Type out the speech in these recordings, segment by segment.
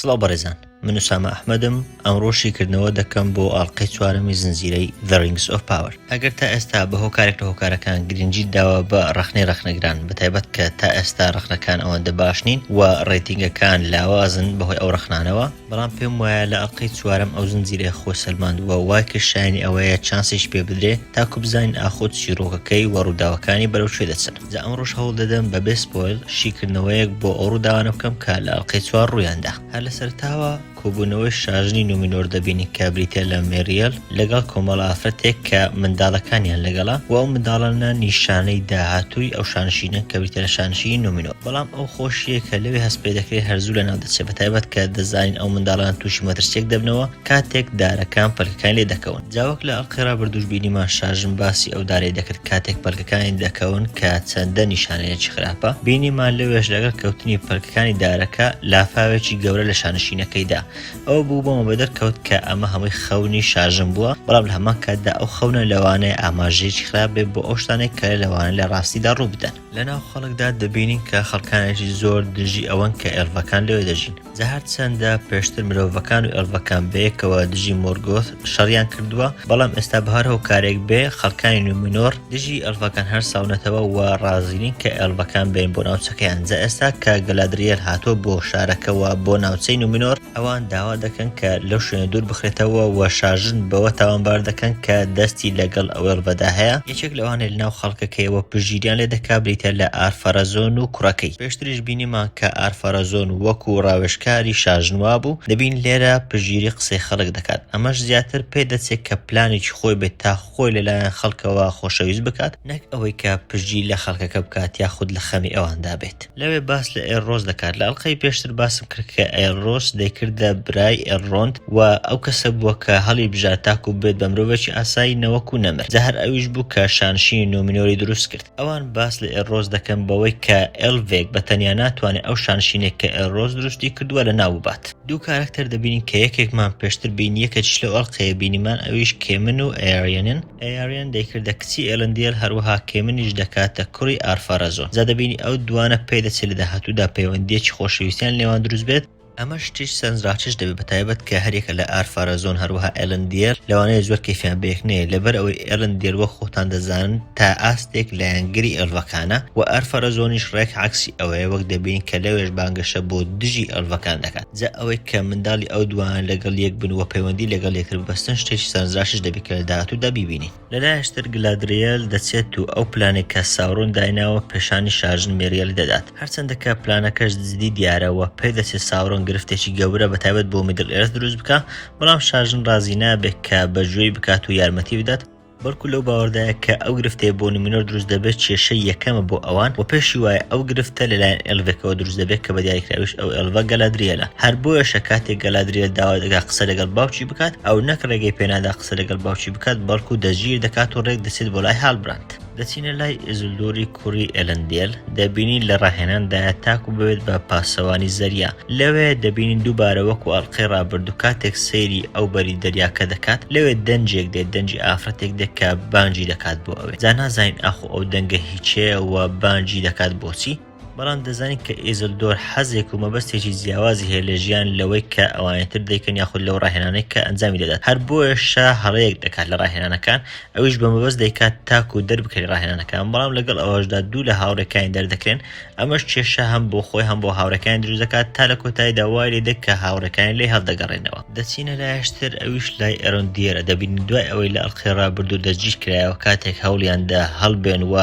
سڵاو بەڕێزان من و سامە ئەحمەدم ئەمڕۆ شیکردنەوە دەکەم بۆ ئاڵلقەی چوارەمی زنجیرەی The Rings of Power ئەگەر تا ئێستا بە هۆکارێک لە هۆکارەکان گرنگجی داوە بە ڕخنەی ڕخنەگران بە تایبەت کە تا ئێستا ڕخنەکان ئەوەندە باش نین و ڕێتینگەکان لاوازن بەهۆی ئەو ڕخنانەوە بەڵام پێم وایە لە ئەڵقەی چوارەم ئەو زنجیرەی خۆی سەلماندووە وای کرد شایەنی ئەوەیە چانسێکی پێ بدرێ تاکو بزانین ئاخۆ چیڕۆکەکەی و ڕووداوەکانی بەرەو کوێ دەچن جا ئەمڕۆش هەوڵ دەدەم بەبێ سپۆیڵ شیکردنەوەیەک بۆ ئەو ڕووداوانە بکەم کە لە ئەڵقەی چوار ڕوویان دا هەر لە سەرەتاوە کۆبوونەوەی شاژنی نومینۆر دەبینین کە بریتیە لە مێریەل، لەگەڵ کۆمەڵە ئافرەتێک کە منداڵەکانیان لەگەڵە و ئەو منداڵانە نیشانەی داهاتووی ئەو شانشینە کە بریتیە لە شانشینی نۆمینۆ بەڵام ئەو خۆشیە کە لەوێ هەست پێ دەکرێت هەر زوو لەناو دەچێت بە تایبەت کە دەزانین ئەو منداڵانە تووشی مەترسیەک دەبنەوە کاتێک دارەکان پەلکەکانی لێ دەکەون جا وەک لە ئەڵقەی ڕابردووش بینیمان شاژن باسی ئەو دارەی دەکرد کاتێک پەلکەکانی دەکەون کە چەندە نیشانەیەکی خراپە بینیمان لەوێش لەگەڵ کەوتنی پەلکەکانی دارەکە لافاوێکی گەورە لە شانشینەکەیدا ئەوە بوو بۆمە بە دەرکەوت کە ئەمە هەمووی خەونی شاژن بووە، بەڵام لە هەمان کاتدا ئەو خەونە لەوانەیە ئاماژەیەکی خراپ بێت بۆ ئەو شتانەی کە لەوانەیە لە ڕاستیدا ڕوو بدەن. لە ناو خەڵکدا دەبینین کە خەڵکانێکی زۆر دژی ئەوەن کە ئێلڤەکان لەوێ دەژین. جا هەرچەندە پێشتر مرۆڤەکان و ئێلڤەکان بەیەکەوە دژی مۆرگۆث شەڕیان کردووە، بەڵام ئێستا بە هەر هۆکارێک بێ، خەڵکانی نومێنۆر دژی ئێلڤەکان هەرساونەتەوە و ڕازی نین کە ئێلڤەکان بێن بۆ ناوچەکەیان جا ئێستا کە گەلادریێل هاتووە بۆ شارەکە و بۆ ناوچەی نومینۆر ئەوان داوا دەکەن کە لەو شوێنە دوور بخرێتەوە و شاژن بەوە تاوانبار دەکەن کە دەستی لەگەڵ ئەوێلڤەدا هەیە یەکێک لەوانەی لەناو خەڵکەکەیەوە پشتگیریان لێ دەکا بریتە لە ئارفەرەزۆن و کوڕەکەی پێشتریش بینیمان کە ئارفەرەزۆن وەکو ڕاوێژکاری شاژن وابوو دەبین لێرە پشتگیری قسەی خەڵک دەکات ئەمەش زیاتر پێدەچێت کە پلانێکی خۆی بێت تا خۆی لە لایەن خەڵکەوە خۆشەویست بکات، نەک ئەوەی کە پشتگیری لە خەڵکەکە بکات یاخود لە خەمی ئەواندا بێت. لەوێ باس لە ئێلرۆس دەکات، لە ئەڵقەی پێشتر باسم کرد کە ئێلرۆس دەیکردە برای ئێلرۆند و ئەو کەسە بووە کە هەڵیبژارد تاکو ببێت بە مرۆڤێکی ئاسایی نەوەکو نەمر، جا هەر ئەویش بوو کە شانشینی نومینۆری دروست کرد. ئەوان باس لە ئێلرۆس دەکەن بەوەی کە ئێلڤێک بە تەنیا ناتوانێت ئەو شانشینەی کە ئێلرۆس دروستی کردووە لەناو ببات. دوو کارەکتەر دەبینین کە یەکێکمان پێشتر بینی یەکێکیش لەو ئەڵقەیە بینیمان ئەویش کێمن و ئەیاریەنن ئەیاریەن دەیکردە کچی ئێلندیل هەروەها کێمنیش دەکاتە کوڕی ئارفارەزۆن جا دەبینی ئەو دووانە پێدەچێت لە داهاتوودا پەیوەندییەکی خۆشەویستیان لێوان دروست بێت ئەمە شتێکی سەرنجڕاکێش دەبێت بە تایبەت کە هەریەکە لە ئارفارەزۆن هەروەها ئێلندیل لەوانەیە زۆر کەیفیان بەیەک نەیەت لەبەر ئەوەی ئێلندیل وەک خۆتان دەزانن تا ئاستێک لایەنگری ئێلڤەکانە وە ئەرفەرەزۆنیش ڕێک عەکسی ئەوەیە وەک دەبینین کە لەوێش بانگەشە بۆ دژی ئێلڤەکان دەکات جا ئەوەی کە منداڵی ئەو دووانە لەگەڵ یەک بن وە پەیوەندی لەگەڵ یەکتر ببەستن شتێکی سەرنجڕاکیش دەبێت کە لە داهاتوودا بیبینین. لە لایشتر گلادریێل دەچێت و ئەو پلانەی کە ساورۆن دایناوە پێشانی شاژن میریێلی دەدات هەرچەندە کە پلانەکەش دزدی دیارە وە پێدەچێت ساورۆن گرفتێکی گەورە بە تایبەت بۆ میدل ئێرث دروست بکا بەڵام شاژن ڕازی نابێت کە بەجوێی بکات و یارمەتی بدات بەڵکو لەو باوەڕدایە کە ئەو گرفتەی بۆ نومینۆر دروست دەبێت کێشەی یەکەمە بۆ ئەوان و پێشی وایە ئەو گرفتە لەلایەن ئێلڤێکەوە دروست دەبێت کە بە دیاریکراویش ئەو ئێلڤە گەلادریێلە هەر بۆیەشە کاتێک گەلادریێل داوا دەکات قسە لەگەڵ باوکی بکات ئەو نەک ڕێگەی پێنادا قسە لەگەڵ باوکی بکات بەڵکو دەستگیر دەکات و ڕێک دەچێت بۆ لای هاڵبراند دەچینە لای ئێزولدۆری کوڕی ئێلەندێل، دەبینین لە ڕاهێناندایە تاکو ببێت بە پاسەوانی زەریا، لەوێ دەبینین دووبارە وەکو ئەڵقەی ڕابردوو کاتێک سەیری ئەو بەری دەریاکە دەکات لەوێ دەنجێک دێت دەنجی ئافرەتێک دێت کە بانگی دەکات بۆ ئەوێ جا نازانین ئاخۆ ئەو دەنگە هیچەیە و بانگی دەکات بۆچی بەڵام دەزانین کە ئیزلدۆر حەزێک و مەبەستێکی جیاوازی هەیە لە ژیان لەوەی کە ئەوانیتر دەیکەن یاخود لەو ڕاهێنانەی کە ئەنجامی دەدات هەر بۆیەشە هەڵەیەک دەکات لە ڕاهێنانەکان ئەویش بە مەبەست دەیکات تاکو دەربکەری ڕاهێنانەکان، بەڵام لەگەڵ ئەوەشدا دوو لە هاوڕێکانی دەردەکرێن، ئەمەش کێشە هەم بۆ خۆی هەم بۆ هاوڕێکانی دروست دەکات، تا لە کۆتاییدا وای لێدێت کە هاوڕێکانی لێی هەڵدەگەڕێنەوە. دەچینە لایشتر، ئەویش لای ئەرۆندیێرە دەبینین دوای ئەوەی لە ئەڵقەی ڕابردوو دەستگیرکرایەوە کاتێک هەوڵیاندا هەڵبێن و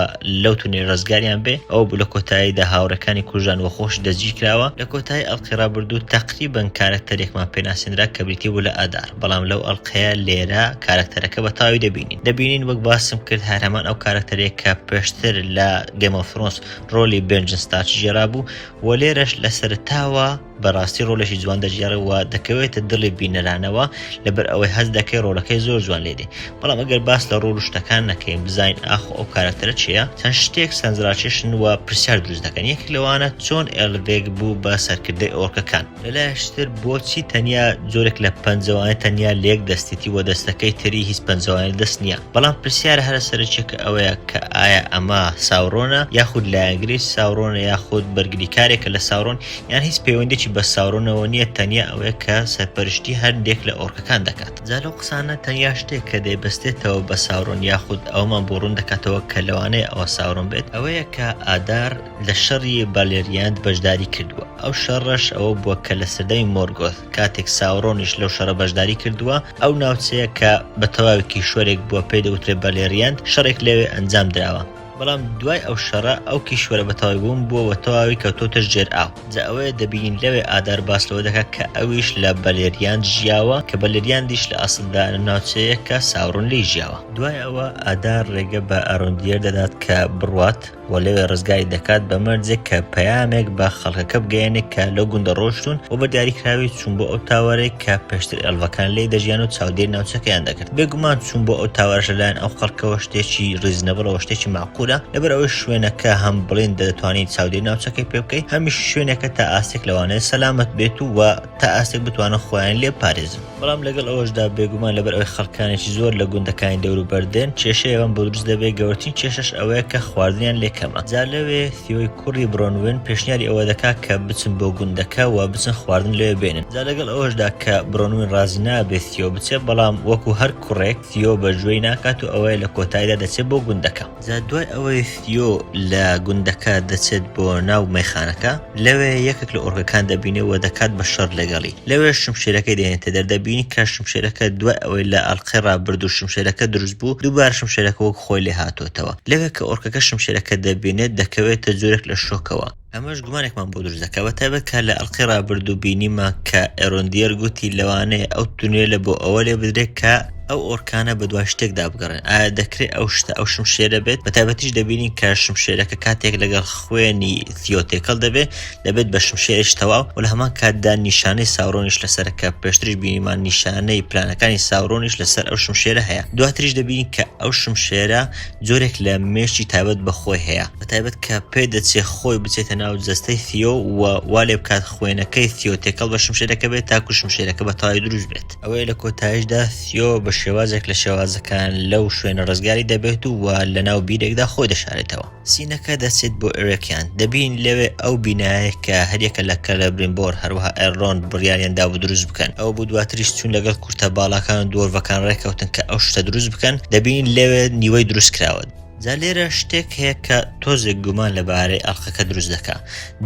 لەو تونێل ڕزگاریان بێ ئەوە بوو لە کۆتاییدا هاوڕێکانی کوژران و خۆشی دەستگیرکراوە، لە کۆتایی ئەڵقەی ڕابردوو تەقریبەن کارەکتەرێکمان پێناسێنرا کە بریتی بوو لە ئادار، بەڵام لەو ئەڵقەیەدا. کە لێرە کارکتەرەکە بە تاوی دەبینین دەبینین وەک باسم کرد هەر هەمان ئەو کارکتەرێک کە پێشتر لە گەمەفرۆنس ڕۆلی بنجن ستارچ ژێرا بوو و لێرەش لە سەرتاوە بەڕاستی ڕۆلێکی جوان دەژێڕەوە دەکەوێتە دڵی بینەرانەوە لەبەر ئەوەی هەز دەکەی ڕۆلەکەی زۆر جوان لێدێ بەڵام ئەگەر باس لە ڕۆڵ شتەکان نەکەین بزین ئاخ ئەو کارکتەرە چیە چەند شتێک سنجراکێشن و پرسیار دروست دەکەن یەک لەوانە چۆن ئێلڤێک بوو بە سەرکردەی ئۆرکەکان لەلایەکشتر بۆچی تەنیا جۆرێک لە پەنجەوانە تەنیا لە یەک دەستیتی و دەستەکەی تری هیچ پەنجەوانە دەست نییە؟ بەڵام پرسیارە هەرە سەرەکیەکە ئەوەیە کە ئایا ئەمە ساورۆنە یاخود لایەنگرێکی ساورۆنە یاخود بەرگریکارێکە لە ساورۆن یان هیچ پەیوەندێکی بە ساورۆنەوە نییە تەنیا ئەوەیە کە سەرپەرشتی هەندێک لە ئۆرکەکان دەکات. جا لەو قسانە تەنیا شتێک کە دەیبەستێتەوە بە ساورۆن یاخود ئەوەمان بۆ ڕوون دەکاتەوە کە لەوانەیە ئەوە ساورۆن بێت ئەوەیە کە ئادار، لە شەڕی بالێریاند بەشداری کردووە، ئەو شەڕەش ئەوە بووە کە لە سەردەمی مۆرگۆث، کاتێک ساورۆنیش لەو شەڕە بەشداری کردووە، ئەو ناوچەیە کە بە تەواوی کیشوەرێک بووە پێی دەوترێت بالێریاند، شەڕێک لەوێ ئەنجام دراوە. بەڵام دوای ئەو شەڕە ئەو کیشوەرە بە تەواوی بوون بووە و تەواوی کەوتۆتە ژێر ئاو. جا ئەوەیە دەبینین لەوێ ئادار باس لەوە دەکات کە ئەویش لە بالێریاند ژیاوە، کە بالێریاندیش لە ئەسڵدا لەم ناوچەیە کە ساورۆن لێی ژیاوە. دوای ئەوە ئادار ڕێگە بە ئارۆندیێر دەدات کە بڕوات. و لەوێ ڕزگاری دەکات بە مەرجێک کە پەیامێک بە خەڵکەکە بگەێنێک کە لەو گوندە ڕۆشتون و بە دیاریکراوی چوون بۆ ئەو تاوارێک کە پێشتر ئەلڤەکان لی دەژیان و چاودێر ناوچەکەیان دەکرد بێگومان چوون بۆ ئەو تاوارش لەلایەن ئەو خەڵکەوە شتێکی ڕیزنەبڵەوە شتێکی معقولە لەبەر ئەوەی شوێنەکە هەم بڵێن دەتوانین چاودێر ناوچەکەی پێ بکەیت هەمیش شوێنەکە تا ئاستێک لەوانەیە سەلامت بێت و تا ئاستێک بتوانن خۆیان لێ بپارێزن. بەڵام لەگەڵ ئەوەشدا بێگومان لەبەر ئەوەی خەڵکانێکی زۆر لە گوندەکانی دەوروبەر دێن کێشەی ئەوان بۆ دروست دەبێت گەورەترین کێشەش ئەوەیە کە خواردنیان لێ کەمە جا لەوێ ثیۆی کوڕی برۆنوێن پێشنیاری ئەوە دەکات کە بچن بۆ گوندەکە و بچن خواردن لەوێ بێنن جا لەگەڵ ئەوەشدا کە برۆنوێن ڕازی نابێت ثیۆ بچێت بەڵام وەکو هەر کوڕێک ثیۆ بەگوێی ناکات و ئەوەیە لە کۆتایدا دەچێت بۆ گوندەکە. جا دوای ئەوەی ثیۆ لە گوندەکە دەچێت بۆ ناو مەیخانەکە، لەوێ یەکێک لە ئۆرکەکان دەبینێ و دەکات بە شەڕ لەگەڵی، لەوێ شمشێرەکەی دێنێتە دەر، دەبینی کە شمشێرەکە دوای ئەوەی لە ئەڵقەی ڕابردوو شمشێرەکە دروست بوو، دووبارە شمشێرەکە وەک خۆی لێهاتووەتەوە، لەوێ کە ئۆرکەکە شمشێرەکە دەبینێت دەکەوێتە جۆرێک لە شۆکەوە. ئەمەش گومانێکمان بۆ دروست دەکات بە تایبەت کە لە ئەڵقەی ڕابردوو بینیمان کە ئێرۆندیەر گوتی لەوانەیە ئەو تونێلە بۆ ئەوە لێ بدرێت کە ئەو ئۆرکانە بە دوای شتێکدا بگەڕێن ئایا دەکرێت ئەو شتە ئەو شمشێرە بێت بە تایبەتیش دەبینین کە شمشێرەکە کاتێک لەگەڵ خوێنی ثیۆ تێکەڵ دەبێت دەبێت بە شمشێرش تەواو و لە هەمان کاتدا نیشانەی ساورۆنیش لەسەر کە پێشتریش بینیمان نیشانەی پلانەکانی ساورۆنیش لەسەر ئەو شمشێرە هەیە دواتریش دەبینین کە ئەو شمشێرە جۆرێک لە مێشکی تابەت بە خۆی هەیە بە تایبەت کە پێ دەچێ خۆی بچێتە ناو جەستەی ثیۆ و وا لێ بکات خوێنەکەی ثیۆ تێکەڵ بە شمشێرەکە بێت تاکو شمشێرەکە بە تەواوی دروست بێت ئەوەیە لە کۆتایشدا ثیۆ بە شێوازێک لە شێوازەکان لەو شوێنە ڕزگاری دەبێت و وا لە ناو بیرێکدا خۆی دەشارێتەوە سینەکە دەچێت بۆ ئێرێکیان دەبین لەوێ ئەو بینایە کە هەریەکە لە کەلە برینبۆر هەروەها ئەرۆن بڕیاریان دابوو دروست بکەن ئەوە بوو دواتریش چوون لەگەڵ کورتە باڵاکان و دۆرڤەکان ڕێککەوتن کە ئەو شتە دروست بکەن دەبین لەوێ نیوەی دروست کراوە. جا لێرە شتێک هەیە کە تۆزێک گومان لە بارەی ئەڵقەکە دروست دەکا.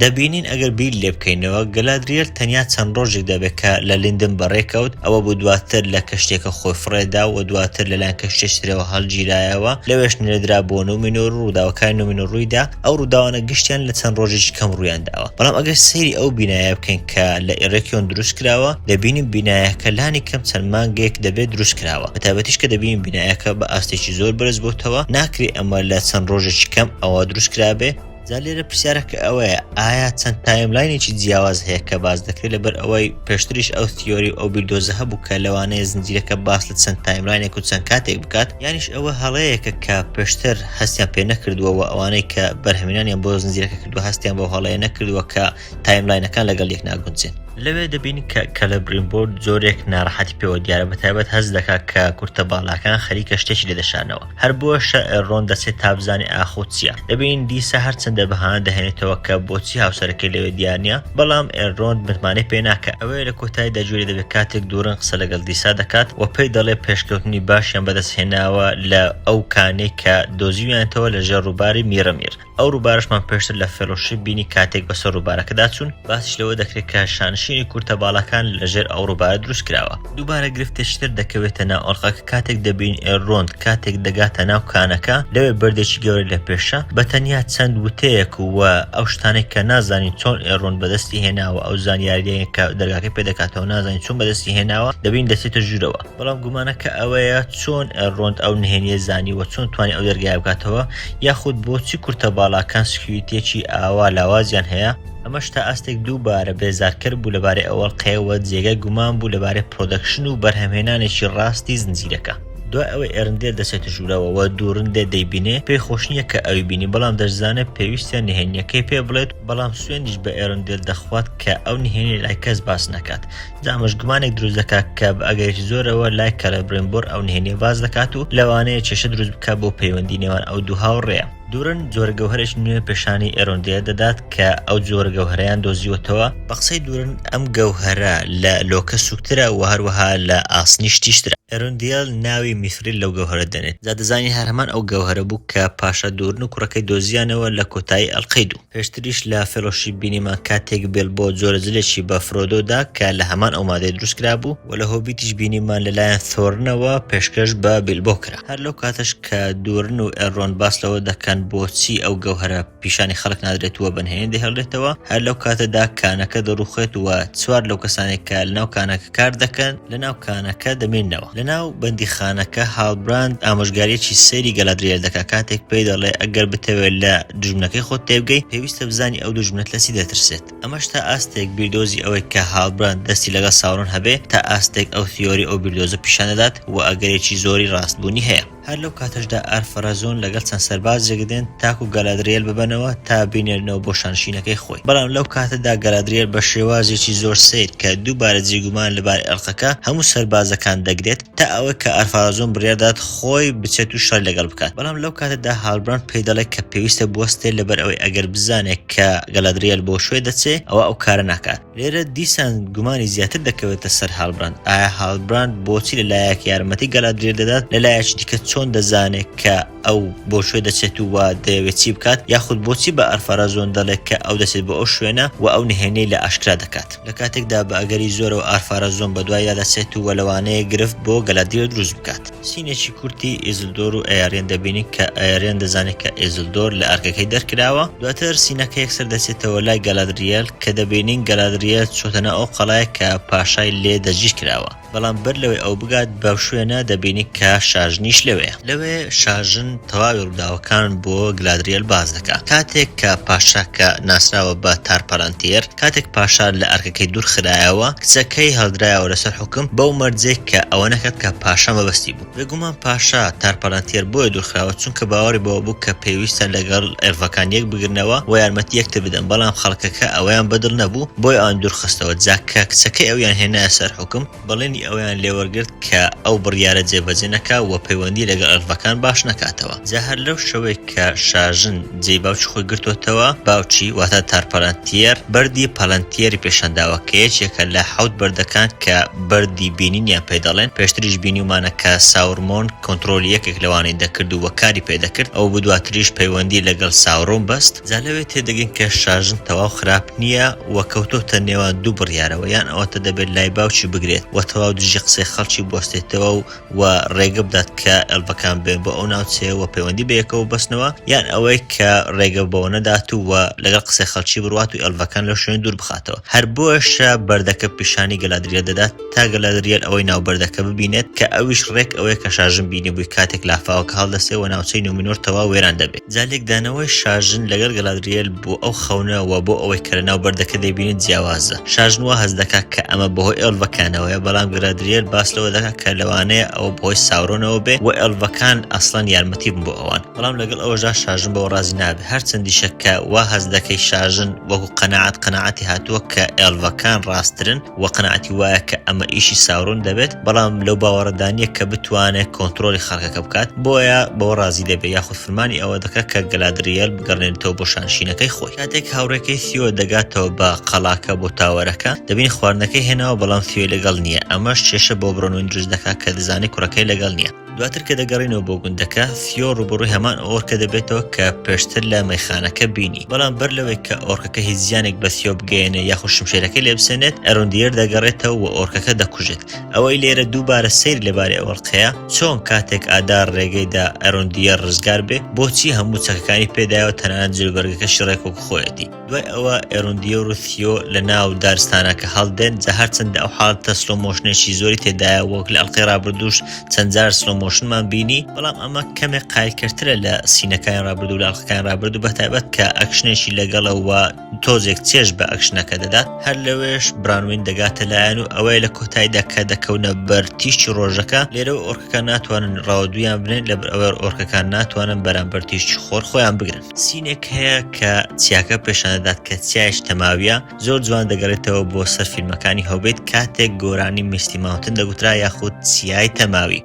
دەبینین ئەگەر بیر لێ بکەینەوە گەلادریێل تەنیا چەند ڕۆژێک دەبێ کە لە لیندن بەڕێ کەوت، ئەوە بوو دواتر لە کەشتیەکە خۆی فڕێ دا و دواتر لە لایەن کەشتیەکی ترەوە هەڵگیرایەوە، لەوێش نێردرا بۆ نومینۆر و ڕووداوەکانی نومینۆر ڕووی دا، ئەو ڕووداوانە گشتیان لە چەند ڕۆژێکی کەم ڕوویان داوە. بەڵام ئەگەر سەیری ئەو بینایە بکەین، کە لە ئێرەکیۆن دروست کراوە دەبینین بینایەکە لانی کەم چەند مانگێک دەبێت دروست کراوە بە تایبەتیش کە دەبینین بینایەکە بە ئاستێکی زۆر بەرز بۆتەوە ناکرێ ئەمە لە چەند ڕۆژێکی کەم ئەوە دروست کرابێ جا لێرە پرسیارەکە ئەوەیە ئایا چەند تایملاینێکی جیاواز هەیە کە باس دەکرێت لەبەر ئەوەی پێشتریش ئەو تیۆری ئەو بیردۆزە هەبوو کە لەوانەیە زنجیرەکە باس لە چەند تایملاینێک و چەند کاتێک بکات یانیش ئەوە هەڵەیەکە کە پێشتر هەستیان پێ نەکردووەوە ئەوانەی کە بەرهەمینانیان بۆ زنجیرەکە کردو هەستیان بۆ هەڵەیە نەکردووە کە تایملاینەکان لەگەڵ یەک ناگونجێن. لەوێ دەبین کە کەلەبرینبۆرد جۆرێک ناڕەحەتی پێوە دیارە بەتایبەت هەست دەکات کە کورتە باڵاکان خەریکە شتێکی لێ دەشارنەوە هەر بۆشە ئێلرۆند دەچێت تا بزانێ ئاخۆ چییە دەبینین دیسە هەرچەندە بەهانە دەهێنێتەوە کە بۆچی هاوسەرەکەی لەوێ دیار نییە بەڵام ئێلرۆند متمانەی پێ ناکات ئەوەیە لە کۆتایدا گوێ لێ دەبێت کاتێک دورن قسە لەگەڵ دیسا دەکات و پێی دەڵێت پێشکەوتنی باشیان بەدەست هێناوە لە ئەو کانەی کە دۆزیویانتەوە لەژێر ڕووباری میرەمیر. ئەو ڕووبارەشمان پێشتر لە فێڵۆشیپ بینی کاتێک بەسەر ڕووبارەکەدا چوون، باسیش لەوە دەکرێت کە شانشینی کورتە باڵاکان لەژێر ئەو ڕووبارە دروست کراوە. دووبارە گرفتێکی تر دەکەوێتە ناو ئەڵقە کە کاتێک دەبین ئێلرۆند کاتێک دەگاتە ناو کانەکە لەوێ بەردێکی گەورە لە پێشە بە تەنیا چەند وتەیەک و ئەو شتانەی کە نازانین چۆن ئێلرۆند بەدەستی هێناوە ئەو زانیاریەی کە دەرگاکەی پێ دەکاتەوە نازانین چۆن بەدەستی هێناوە دەبین دەچێتە ژوورەوە. بەڵام گومانەکە ئەوەیە چۆن ڕۆند ئەو نهێنیە زانیوە چۆن توانی ئەو دەرگای بکاتەوە یاخود بۆچی کورتە باڵاکان سکیوریتێکی ئاوا لاوازیان هەیە ئەمەش تا ئاستێک دووبارە بێزارکەر بوو لەبارەی ئەوەڵقەیەوە جێگای گومان بوو لەبارەی پرۆدەکشن و بەرهەمهێنانێکی ڕاستی زنجیرەکە. دوای ئەوەی ئێرندێل دەچێتە ژوورەوە و دوورندێ دەیبینێ پێی خۆشنیە کە ئەوی بینی بەڵام دەشزانێت پێویستە نهێنیەکەی پێ بڵێت بەڵام سوێندیش بە ئێرندێل دەخوات کە ئەو نهێنیە لای کەس باس نەکات دامژ گومانێک دروست دەکات کە بە ئەگەرێکی زۆرەوە لای کەلەبرێنبۆر ئەو نهێنیە باس دەکات و لەوانەیە کێشە دروست بکات بۆ پەیوەندی نێوان ئەو دوو هاوڕێیە. دورن جۆرە گەوهەرێکی نوێ پێشانی ئێرۆندێ دەدات کە ئەو جۆرە گەوهەرەیان دۆزیوەتەوە، بە قسەی دورن ئەم گەوهەرە لە لۆکە سووکترە و هەروەها لە ئاسنیش تیژترە، ئێرۆندێل ناوی میثریل لەو گەوهەرە دەنێت، جا دەزانین هەر هەمان ئەو گەوهەرە بوو کە پاشا دورن و کوڕەکەی دۆزیانەوە لە کۆتایی ئەڵقەی دوو. پێشتریش لە فێڵۆشیپ بینیمان کاتێک بێلبۆ جۆرە جلێکی بە فرۆدۆ دا کە لە هەمان ئەو مادەی دروست کرابوو و لە هۆبیتیش بینیمان لەلایەن ثۆرنەوە پێشکەش بە بیلبۆ کرا هەر لەو کاتەش کە دورن و ئێلرۆند باس لەوە دەکەن بۆچی ئەو گەوهەرە پیشانی خەڵک نادرێت و بەنهێنی دەهێڵرێتەوە هەر لەو کاتەدا کانەکە دەڕوخێت و چوار لەو کەسانەی کە لەناو کانەکە کار دەکەن لە ناو کانەکە دەمێنەوە لە ناو بەندی خانەکە هاڵبراند ئامۆژگاریەکی سەیری گەلادریێر دەکە کاتێک پێی دەڵێ ئەگەر بتەوێت لە دژمنەکەی خۆت تێبگەی پێویستە بزانی ئەو دژمنت لەسی دەترسێت ئەمەش تا ئاستێک بیردۆزی ئەوەی کە هاڵبراند دەستی لەگەڵ ساورۆن هەبێ تا ئاستێک ئەو تیۆری ئەو بیردۆزە پیشان دەدات و ئەگەرێکی زۆری ڕاستبوونی هەیە. هەر لەو کاتەشدا ئارفەرەزۆن لەگەڵ چەند سەربازێک دێن تاکو گالادرێل ببەنەوە تا بینێرنەوە بۆ شانشینەکەی خۆی بەڵام لەو کاتەدا گالادرێل بە شێوازێکی زۆر سەیر کە دووبارە جێی گومانە لەبارەی ئەڵقەکە هەموو سەربازەکان دەگرێت تا ئەوەی کە ئارفەرەزۆن بڕیار دەدات خۆی بچێت و شەڕی لەگەڵ بکات بەڵام لەو کاتەدا هالبراند پێی دەڵێت کە پێویستە بوەستێت لەبەر ئەوەی ئەگەر بزانێت کە گالادرێل بۆ شوێ دەچێت ئەوا ئەو کارە ناکات. لێرە دیسان گومانی زیاتر دەکەوێتە سەر هالبراند ئایا هالبراند بۆچی لە لایەک یارمەتی گەلادرێر دەدات لە لایەکی دیکە چۆن دەزانێت کە ئەو بۆ شوێ دەچێت و وا دەیەوێت چی بکات یاخود بۆچی بە ئەرفەرە زۆن دەڵێت کە ئەو دەچێت بۆ ئەو شوێنە و ئەو نهێنیەی لە ئاشکرا دەکات لە کاتێکدا بە ئەگەری زۆرەوە ئارفارە زۆن بەدوایدا دەچێت و وە لەوانەیە گرفت بۆ گەلادرێر دروست بکات. سینێکی کورتی ئیزلدۆر و ئەیارێن دەبینین کە ئەیارێن دەزانێت کە ئیزلدۆر لە ئەرکەکەی دەرکراوە دواتر سینەکە یەکسەر دەچێتەوە لای گەلادریەل کە دەبینین گەلادریەل چۆتە ناو ئەو قەڵایەک کە پاشای لێ دەستگیر کراوە بەڵام بەر لەوەی ئەو بگات بەو شوێنە دەبینین کە شاژنیش لەوێیە لەوێ شاژن تەواوی ڕووداوەکان بۆ گلادریەل باس دەکات کاتێک کە پاشا کە ناسراوە بە تار پەلەنتیەر کاتێک پاشا لە ئەرکەکەی دوور خرایەوە، کچەکەی هەڵدرایەوە لەسەر حوکم، بەو مەرجەی کە ئەوە نەکات کە پاشا مەبەستی بوو. بێگومان پاشا، تار پالانتیێر، بۆیە دوور خراوە، چونکە باوەڕی بەوە بوو کە پێویستە لەگەڵ ئێلڤەکان یەک بگرنەوە و یارمەتی یەکتر بدەن، بەڵام خەڵکەکە ئەوەیان بەدڵ نەبوو، بۆیە ئەوانی دوور خستەوە، جا کە کچەکەی ئەویان هێنایە سەر حوکم، بەڵێنی ئەوەیان لێوەرگرت کە ئەو بڕیارە جێبەجێ نەکا و پەیوەندی لەگەڵ ئەلڤەکان باش نەکاتەوە. جا هەر لەو شەوەی کە شاژن جێی باوکی خۆی گرتۆتەوە، باوکی واتە تارپالانتیێر بەردی پالانتیێری پێشانداوە کە یەکێکە لە حەوت بەردەکان کە بەردی بینینیان پێ دەڵێن، پێشتریش بینیومانە کە ساورمۆن کۆنترۆلی یەکێک لەوانەی دەکرد و کاری پێ دەکرد، ئەو بدواتریش پەیوەندی لەگەڵ ساورۆن بەست. جا لەوێ تێدەگەین کە شاژن تەواو خراپ نییە و کەوتۆتە نێوان دوو بڕیارەوە، یان ئەوەتە دەبێت لای باوکی بگرێت و تەواو دژی قسەی خەڵکی بوەستێتەوە و و ڕێگە بدات کە ئێلڤەکان بێن بۆ ئەو ناوچەیە و پەیوەندی بە یەکەوە ببەستنەوە، یان ئەوەی کە ڕێگە بەوە نەدات و و لەگەڵ قسەی خەڵکی بڕوات و ئێلڤەکان لەو شوێنە دوور بخاتەوە. هەر بۆیەشە بەردەکە پیشانی گەلادرییە دەدات. تا گەلادریەل ئەوەی ناو بەردەکە ببینێت کە ئەویش ڕێک ئەوەیە کە شاژن بینیبووی کاتێک لافاوەکە هەڵدەستێ وە ناوچەی نومینۆر تەواو وێران دەبێ. جا لێکدانەوەی شاژن لەگەڵ گەلادریەل بۆ ئەو خەونە وە بۆ ئەوەی کە لەناو بەردەکە دەیبینێت جیاوازە. شاژن وا هەست دەکا کە ئەمە بەهۆی ئێڵڤەکانەوەیە بەڵام گەلادریەل باس لەوە دەکا کە لەوانەیە ئەوە بەهۆی ساورۆنەوە بێ وە ئێڵڤەکان ئەسڵەن یارمەتی بن بۆ ئەوان بەڵام لەگەڵ ئەوەشدا شاژن بەوە ڕازی نابێ هەرچەندیشە کە وا هەست دەکەی شاژن وەکو قەناعەت قەناعەتی هاتووە کە ئێڵڤەکان ڕاستترن وە قەناعەتی وایە کە ئەمە ئیشی ساورۆن دەبێت بەڵام لەو باوەڕەدا نیە کە بتوانێت کۆنتڕۆڵی خەڵکەکە بکات بۆیە بەوە ڕازی دەبێت یاخود فرمانی ئەوە دەکات کە گەلادرییەل بگەڕێنێتەوە بۆ شانشینەکەی خۆی کاتێک هاوڕێکەی سیۆ دەگاتەوە بە قەڵاکە بۆ تاوەرەکە دەبینی خواردنەکەی هێناوە بەڵام سیۆی لەگەڵ نیە ئەمەش کێشە بۆ برۆنوین دروست دەکات کە دەزانێت کوڕەکەی لەگەڵ نیە. دواتر کە دەگەڕینەوە بۆ گوندەکە، ثیۆ ڕووبەڕووی هەمان ئۆرکە دەبێتەوە کە پێشتر لە مەیخانەکە بینی. بەڵام بەر لەوەی کە ئۆرکەکە هیچ زیانێک بە ثیۆ بگەیەنێت یاخود شمشێرەکەی لێ بسێنێت، ئەروندیێر دەگەڕێتەوە و ئۆرکەکە دەکوژێت. ئەوەی لێرە دووبارە سەیر لە باری ئۆرقەیە، چۆن کاتێک ئادار ڕێگەی دا ئەروندیێر ڕزگار بێ، بۆچی هەموو چەکەکانی پێ دایەوە تەنانەت جلوبەرگەکەشی ڕێک وەک خۆیەتی. دوای ئەوە ئێروندییە و روسیۆ لە ناو دارستانەکە هەڵدێن جا هەرچەندە ئەو حاڵتە سلۆمۆشنێکی زۆری تێدایە وەک لە ئەڵلقەی ڕابردووش چەندجار سلۆمۆشنمان بینی بەڵام ئەمە کەمێک قایلکردترە لە سینەکانی ڕابردوو لە ئەڵلقەکانی ڕابرد و بەتایبەت کە ئەکشنێکی لەگەڵەوە تۆزێک چێژ بە ئەکشنەکە دەدات هەر لەوێش برانوین دەگاتە لایەن و ئەوەیە لە کۆتاییدا کە دەکەونە بەر تیشتی ڕۆژەکە لێرە و ئۆرکەکان ناتوانن ڕاوە دویان بنێن لە بەر ئەوەر ئۆرکەکان ناتوانن بەرامبەر تیشتی خۆر خۆیان بگرن. سینێک هەیە کە چیاکە پێشاندەدات کە چیایش تەماویە زۆر جوان دەگەڕێتەوە بۆ سەر فیلمەکانی هەوبێت کاتێک گۆرانی میستی ماونتن دەگوترا یاخود چیای تەماوی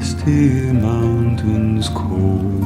Misty mountains cold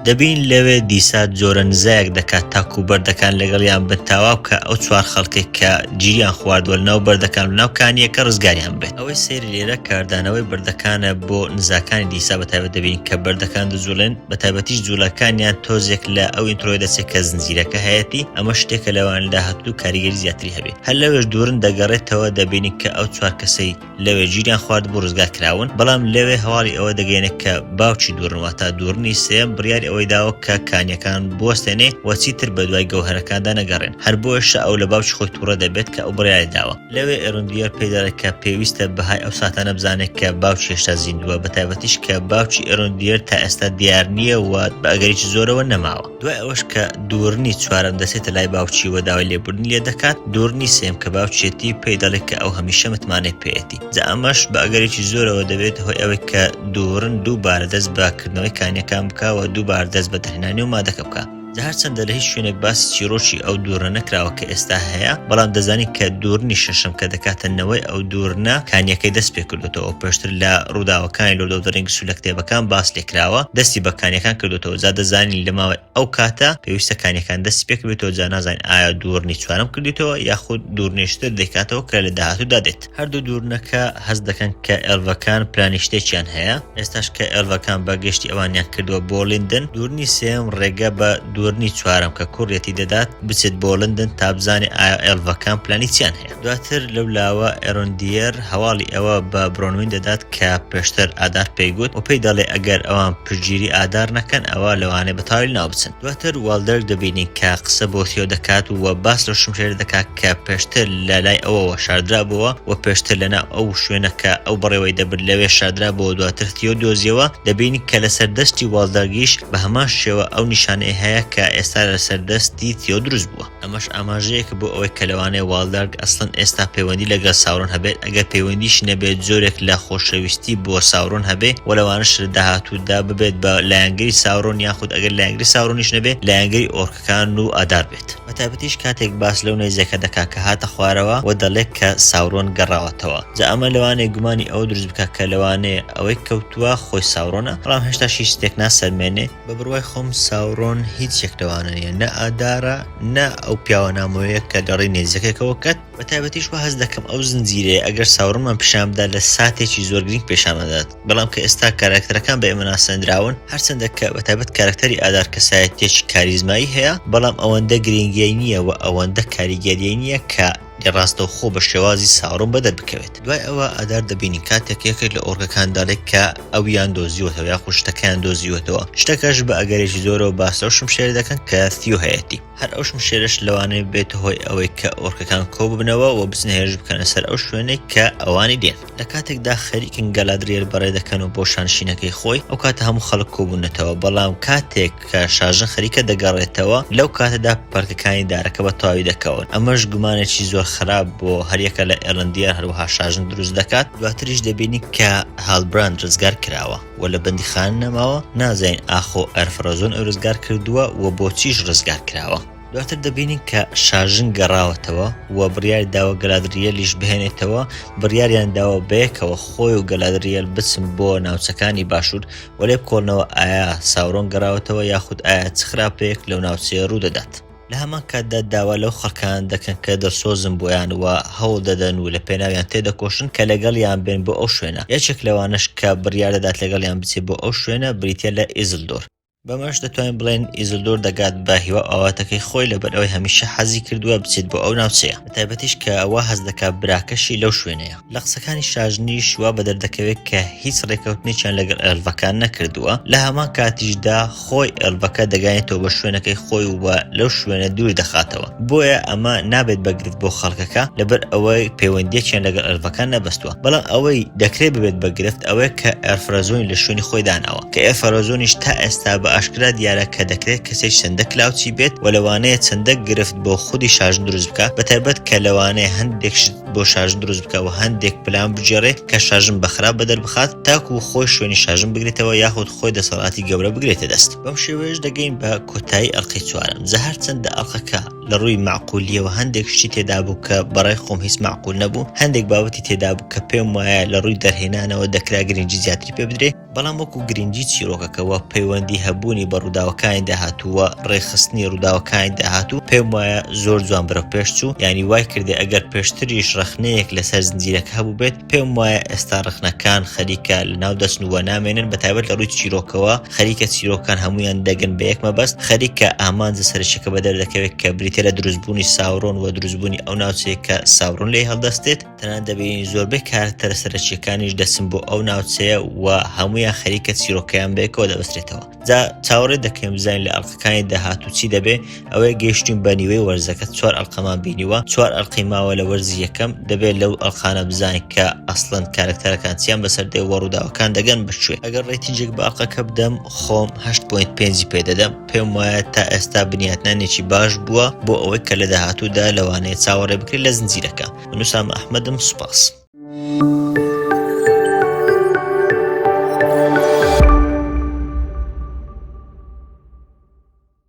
دەبین لەوێ دیسا جۆرە نزایەک دەکات تاکو بەردەکان لەگەڵیان بن تاوا بکا ئەو چوار خەڵکەی کە گیریان خواردوە لەناو بەردەکان و ناو کانییەکە ڕزگاریان بێت ئەوەی سەیرە لێرە کاردانەوەی بەردەکانە بۆ نزاکانی دیسا بە تایبەت دەبین کە بەردەکان دەجوڵێن بە تایبەتیش جوڵەکانیان تۆزێک لە ئەو ئینترۆیە دەچێت کە زنجیرەکە هەیەتی ئەمە شتێکە لەوان لە هاتوو کاریگەری زیاتری هەبێ. هەر لەوێش دوورن دەگەڕێتەوە دەبینی کە ئەو چوار کەسەی لەوێ گیریان خوارد بوو ڕزگار کراون بەڵام لەوێ هەواڵی ئەوە دەگەێنێت کە باوکی دوورنەوە تا دوورنی سێم بڕیاری ئەوەی داوە کە کانیەکان بوەستێنێ وەچی تر بە دوای گەوهرەکاندا نەگەڕێن هەر بۆشە ئەو لە باوکی خۆی تووڕە دەبێت کە ئەو بڕیاری داوە لەوێ ئێرندیار پێداڵێت کە پێویستە بەهای ئەو ساتانە بزانێت کە باوکی هێشتا زیندووە بە تایبەتیش کە باوکی ئێرندیار تا ئێستا دیار نییە و بە ئەگەریی زۆرەوە نەماوە دوای ئەوەش کە دوورنی چوارەم دەچێتە لای باوکی و داوای لێبوردنی لێ دەکات، دوورنی سێم کە باوکیەتی پێی دەڵێت کە ئەو هەمیشە متمانەی پێیەتی، جا ئەمەش بە ئەگەرێکی زۆرەوە دەبێتە هۆی ئەوەی کە دوورن دووبارە دەست بە کردنەوەی کانیەکان بکا و دووبارە دەست بە دەرهێنانی و مادەکە بکا. جا هەرچەندە لە هیچ شوێنێک باسی چیڕۆکی ئەو دوورنە نەکراوە کە ئێستا هەیە، بەڵام دەزانین کە دوورنی شەشەم کە دەکاتە نەوەی ئەو دوورنە کانیەکەی دەست پێ کردووە، کردوەتەوە پێشتر لە ڕووداوەکانی لۆدۆدرینگ سولە کتێبەکان باس لێکراوە دەستی بە کانیەکان کردوەوە جا دەزانین لە ماوەی ئەو کاتە پێویستە کانیەکان دەستی پێکبێتەوە جا نازانین ئایا دوورنی چوارەم کردیتەوە یاخود دوورنیشتر دەیکاتەوە کە لە داهاتوودا دێت هەردوو دوورنەکە هەست دەکەن کە ئێلڤەکان پلانی شتێکیان هەیە ئێستاش کە ئێلڤەکان بە گەشتی ئەوانیان کردووە بۆ لندن دوورنی سێم ڕێگە بە دوورنی چوارەم کە کوڕیەتی دەدات بچێت بۆ لندن تابزانێ ئایا ئێلڤەکان پلانی چیان هەیە دواتر لەو لاوە ئێرۆندیێر هەواڵی ئەوە بە برۆنوین دەدات کە پێشتر ئادار پێی گوت و پێی دەڵێ ئەگەر ئەوان پشتگیری ئادار نەکەن ئەوا لەوانەیە بە تاویل ناو بچن دواتر والدەرگ دەبینین کە قسە بۆ تیۆ دەکات و باس لەو شمشێرە دەکات کە پێشتر لە لای ئەوەوە شاردرابۆوە و پێشتر لەناو ئەو شوێنە کە ئەو بەڕێوەی دەبرد لەوێ شاردرابۆوە دواتر تیۆ دۆزیەوە دەبینین کە لەسەر دەستی والدەرگیش بە هەمان شێوە ئەو نیشانەی هەیە کە ئێستا لەسەر دەستی تیۆ دروست بووە. ئەمەش ئاماژەیەکە بۆ ئەوەی کە لەوانەیە واڵدارگ ئەسڵەن ئێستا پەیوەندی لەگەڵ ساورۆن هەبێت، ئەگەر پەیوەندیشی نەبێت جۆرێک لە خۆشەویستی بۆ ساورۆن هەبێ و لەوانەشە لە داهاتوودا ببێت بە لایەنگری ساورۆن یاخود ئەگەر لایەنگری ساورۆنیش نەبێ لایەنگری ئۆرکەکان و ئادار بێت. بە تایبەتیش کاتێک باس لەو نەیزەکە دەکات کە هاتە خوارەوە و دەڵێت کە ساورۆن گەڕاوەتەوە جا ئەمە لەوانەیە گومانی ئەوە دروست بکات کە لەوانەیە ئەوەی کەوتووە خۆی ساورۆنە بەڵام هێشتاش هیچ شتێک ناسەلمێنێ بە بڕوای خۆم ساورۆن هیچ یەک لەوانە نیە نە ئادارە نە ئەو پیاوە نامۆیە کە دەڕی نێزەکێکەوە کەت بە تایبەتیش وە هەست دەکەم ئەو زنجیرەیە ئەگەر ساورۆنمان پیشان بدا لە ساتێکی زۆر گرینگ پیشانمان دەدات بەڵام کە ئێستا کارەکتەرەکان بە ئێمە ناسێندراون هەرچەندە کە بە تایبەت کارەکتەری ئادار کەسایەتیەکی کاریزمایی هەیە بەڵام ئەوەندە گرینگی نیە وە ئەوەندە کاریگەریی نیە کە لێ ڕاستەوخۆ بە شێوازی ساڕوو بەدەر بکەوێت. دوای ئەوە ئادار دەبینین کاتێک یەکێک لە ئۆڕگەکان دەڵێت کە ئەویان دۆزیوەتەوە یاخود شتەکەیان دۆزیوەتەوە، شتەکەش بە ئەگەرێکی زۆرەوە باس لەو شمشێرە دەکەن کە ثیۆ هەیەتی. هەر ئەو شمشێرەش لەوانەیە ببێتە هۆی ئەوەی کە ئۆڕکەکان کۆببنەوە و بچنە هێرش بکەنە سەر ئەو شوێنەی کە ئەوانی دێن. لە کاتێکدا خەریکن گالادریێل بەڕێ دەکەن و بۆ شانشینەکەی خۆی، ئەو کاتە هەموو خەڵک کۆبوونەتەوە، بەڵام کاتێک. کە شارژە خەریکە دەگەڕێتەوە، لەو کاتەدا پەرکەکانی دارەکە بە تەواوی دەکەون، ئەمەش گومانێکی زۆر خراپ بۆ هەر یەکە لە ئێرلەندییان هەروەها شارژن دروست دەکات، دواتریش دەبینین کە هالبراند ڕزگار کراوە و لە بەندیخانە نەماوە، نازانین ئاخۆ ئەرفرەزۆن ئەو ڕزگار کردووە و بۆچیش ڕزگار کراوە. دواتر دەبینین کە شارژن گەڕاوەتەوە و بڕیاری داوە گەلادرییەلیش بهێنێتەوە، بڕیاریان داوە بەیەکەوە خۆی و گەلادرییەل بچن بۆ ناوچەکانی باشوور، وەلێ کۆڵنەوە ئایا ساورۆن گەڕاوەتەوە یاخود ئایا چ خراپەیەک لەو ناوچەیە ڕوودەدات؟ لە هەمان کاتدا داوا لەو خەڵکانە دەکەن کە دڵسۆزن بۆیان و هەوڵ دەدەن و لە پێناویان تێدەکۆشن کە لەگەڵیان بێن بۆ ئەو شوێنە، یەکێک لەوانەش کە بڕیار دەدات لەگەڵیان بچێت بۆ ئەو شوێنە بریتییە لە ئیزلدۆر. بەمەش دەتوانین بڵێین ئیزلدۆر دەگات بە هیوا و ئاواتەکەی خۆی لەبەرئەوەی هەمیشە حەزی کردووە بچێت بۆ ئەو ناوچەیە بەتایبەتیش کە وا هەست دەکات براکەشی لەو شوێنەیە. لە قسەکانی شاژنیش وا بە دەردەکەوێت کە هیچ ڕێکەوتنێکیان لەگەڵ ئێلڤەکان نەکردووە، لە هەمان کاتیشدا خۆی ئێلڤەکە دەگەیەنێتەوە بە شوێنەکەی خۆی و لەو شوێنە دوور دەخاتەوە، بۆیە ئەمە نابێت بە گرفت بۆ خەڵکەکە لەبەر ئەوەی پەیوەندییەکیان لەگەڵ ئێلڤەکان نەبەستووە، بەڵام ئەوەی دەکرێت ببێت بە گرفت ئەوەیە کە ئێرفرەزۆنی لە شوێنی خۆی داناوە، کە ئێرفرەزۆنیش تا ئێستا بە ئاشکرا دیارە کە دەکرێت کەسێک چەندە کلاوچی بێت و لەوانەیە چەندە گرفت بۆ خودی شاژن دروست بکات، بە تایبەت کە لەوانەیە هەندێک شت. بۆ شارژن دروست بکە و هەندێک پلان بگێڕێ کە شارژن بە خراپ بەدەر بخات تاکو خۆی شوێنی شارژن بگرێتەوە یاخود خۆی دەسەڵاتی گەورە بگرێتە دەست بەم شێوەیەش دەگەین بە کۆتایی ئەڵلقەی چوارم جا هەرچەندە ئەڵلقەکە لە ڕووی مەعقولیەوە هەندێک شتی تێدا بوو کە بەڕای خۆم هیچ مەعقول نەبوو هەندێک بابەتی تێدا بوو کە پێم وایە لە ڕووی دەرهێنانەوە دەکرا گرنگی زیاتری پێ بدرێ بەڵام وەکو گرنگی چیرۆکەکە و پەیوەندی هەبوونی بە ڕووداوەکانی داهاتوو و ڕێکخستنی ڕووداوەکانی داهاتوو پێم وایە زۆر جوان بەرەو پێش چوو یانی وای کردی ئەگەر پێشتریش ڕەخنەیەک لەسەر زنجیرەکە هەبووبێت پێم وایە ئێستا ڕەخنەکان خەریکە لەناو دەچن و نامێنن بە تایبەت لە ڕووی چیرۆکەوە خەریکە چیرۆکەکان هەموویان دەگەن بە یەک مەبەست خەریکە ئامانجە سەرەکیەکە بەدەردەکەوێت کە بریتیە لە دروستبوونی ساورۆن و دروستبوونی ئەو ناوچەیە کە ساورۆن لێی هەڵدەستێت. تەنان دەبینین زۆربەی کارکتەرە سەرەکیەکانیش دەچن بۆ ئەو ناوچەیە و هەمویان خەریکە چیرۆکەیان بێکەوە دەبسرێتەوە جا چاوەڕێ دەکەم بزانین لە ئەڵلقەکانی داهات و چی دەبێ ئەوەی گەیشتین بە نیوەی وەرزەکە چوار ئەڵلقەمان بینیوە چوار ئەڵلقەی ماوە لە وەرزی یەکەم دەبێت لەو ئەڵلقانە بزانین کە ئەسڵەن کارکتەرەکان چیان بەسەر دێ وەڕووداوەکان دەگەن بچێت ئەگەر ڕێتیجێک باقەکە بدەم خۆم 8.5 پێ دەدەم پێم وایە تا ئێستا بنیاتنانێکی باش بووە بۆ ئەوەی کە لە داهاتوودا لەوانەیە چاوەڕێ بکرێت لە زنجیرەکە من وسام ئەحمەدم سوپاس.